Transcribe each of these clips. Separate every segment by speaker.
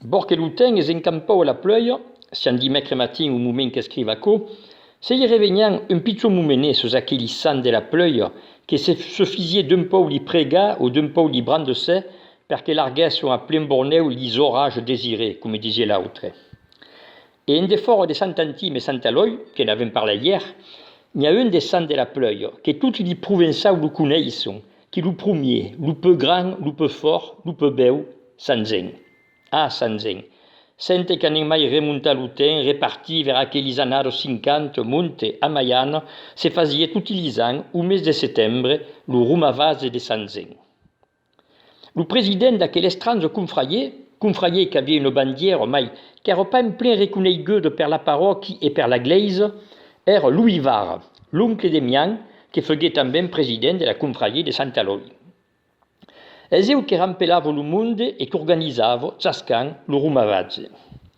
Speaker 1: Bor que lo temps es encampau a la plèia, sián dimècre matin au moment qu'escriv aquò, se i revenhan un pichon momenet sus aqueli sants de la plèia que se sufisie d'un pòu li pregar o d'un pòu li brandesser per que larguèsson a plen bornèu li zorrages desirés, coma disie l'autre. E en defòra de Sant Antim e Sant Elòi, que n'avèm parlat ièr, n'i a un de Sant de la Plèia, que toti li Provençau lo coneisson, qu'es lo promier, lo peu grand, lo peu fòrt, lo peu bèu, Sant Zen. Ah, Sant Zen! Sente qu'anem mai remontar lo temps, repartir vers aquelis annados cinquanta, monte, a Maiana, se fasiá toti li ans, o mes de setembre, lo romavase de Sant Zen. Lo president d'aquel estrange confraier, confraier qu'aviá una bandièra mai qu'èra pas en plen reconeiguda per la paròqui e per la glèisa, èra Louis Var, l'oncle de mian que foguèt tanben president de la confraier de Sant Elòi. Es eu que rampelava lo monde e qu'organizava, chascant, lo romavatge.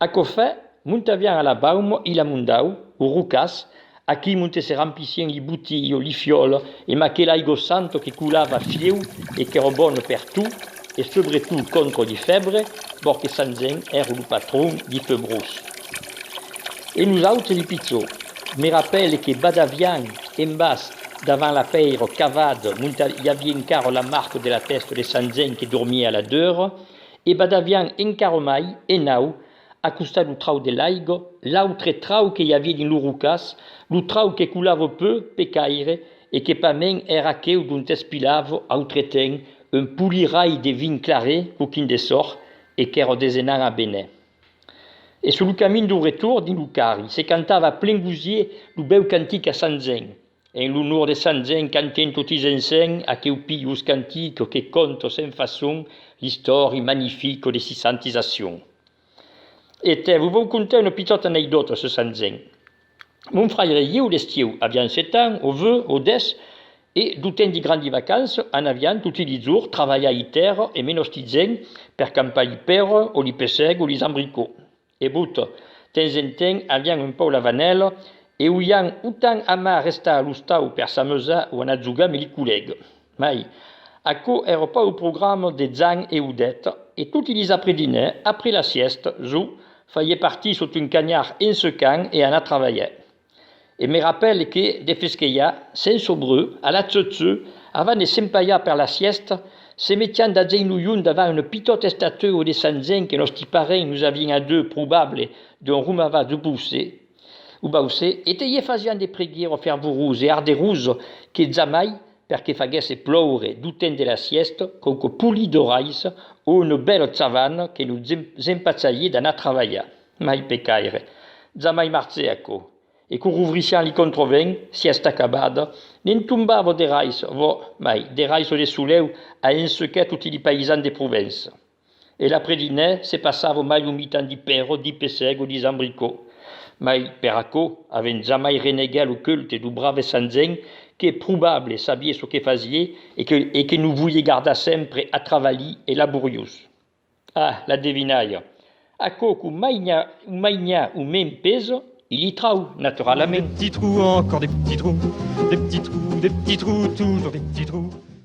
Speaker 1: Aquò fait, montavián a la baum i la mondau, o rocas, aquí monte se rampissien li buti o li fiòl e ma que l'aigò santo que coulava fieu e qu'èro bon per tu e sobre tu contro li fèbre, bò que Sanzen èro lo patron li feubrós. E los autres li pichó, me rapèle que badavián en bas davant la pèiro cavada monta i aviá encara la marca de la tèsta de Sanzen que dormia a la deura e badavián encara mai enau, a costat lo trau de l'aigo, l'autre trau que i aviá dins lo rocàs, lo trau que colava peu pe caire e que pas men èra aqueu dont es pilava autre temps un polirai de vin clare coquin de sòrh e qu'èra desenant a Benè. E sur lo camin dau retorn dins lo carri se cantava a plen gosier lo bèu cantic a Sant Zèn, En l'onor de Sant Jen cantem totis ensenh aqueu pius cantico que conta sen façon l'istòri magnifico de si santizacion. E te vos vòu contar una pitòta aneidòta sur Sant Jen. Mon fraire e ieu d'estieu aviam set ans o veu o des e d'o temps de grandi vacança anaviam toti li jours travalhar i tèrra e menòsti Jen per campar li pèrre o li pessèg o li zambricò. E bot, temps en temps, avián un pau lavanèl e oián autant amar restar a l'ostau per s'ameusar o anar jogar meli colèg. Mai, aquò èra pas au programa de Zan e Odet, e toti dis après dinè, après la sièsta, Zo faié partir sot un canhar en secant e anar travalhar. E me rapèle que, de fesquelha, sens obreu, a la tzu-tzu, avant de s'empaiar per la sièsta, se metián d'agent lo junh davant una pitòta estatueu de Sant Jean que nòsti parents nos avián adeu probable d'on romava du Bauçais, o Bauçais, e te ie fasián de preguièro fervorós e arderós que jamai, per que faguèsse ploure du temps de la sièsta, quauque poli d'orais o una bèla chavana que nos empachaié d'anar travalhar. Mai pecaire, jamai marcè aquò, e qu'o rouvrissián li controvèn, si est acabada, ne'n tombava de rais, vò, mai, de rais o de solèu, a ensequèr toti li païsans de Provença. E l'après dinèr, se passava mai lo mitan di pèro, di pessèg o di zambricò. Mai, per aquò, avent jamai reneguèr lo culte do brave Sant Gen, qu'è probable, sabié çò que fasié, e que, e que no voié gardar sempre, atravalhí e laboriós. A la devinalha. Aquò qu'o mainha, o mainha o mèn pesa, i li trau, naturalament. Des petits
Speaker 2: trous, encore des petits trous, des petits
Speaker 1: trous,
Speaker 2: des petits trous, toujours des petits trous.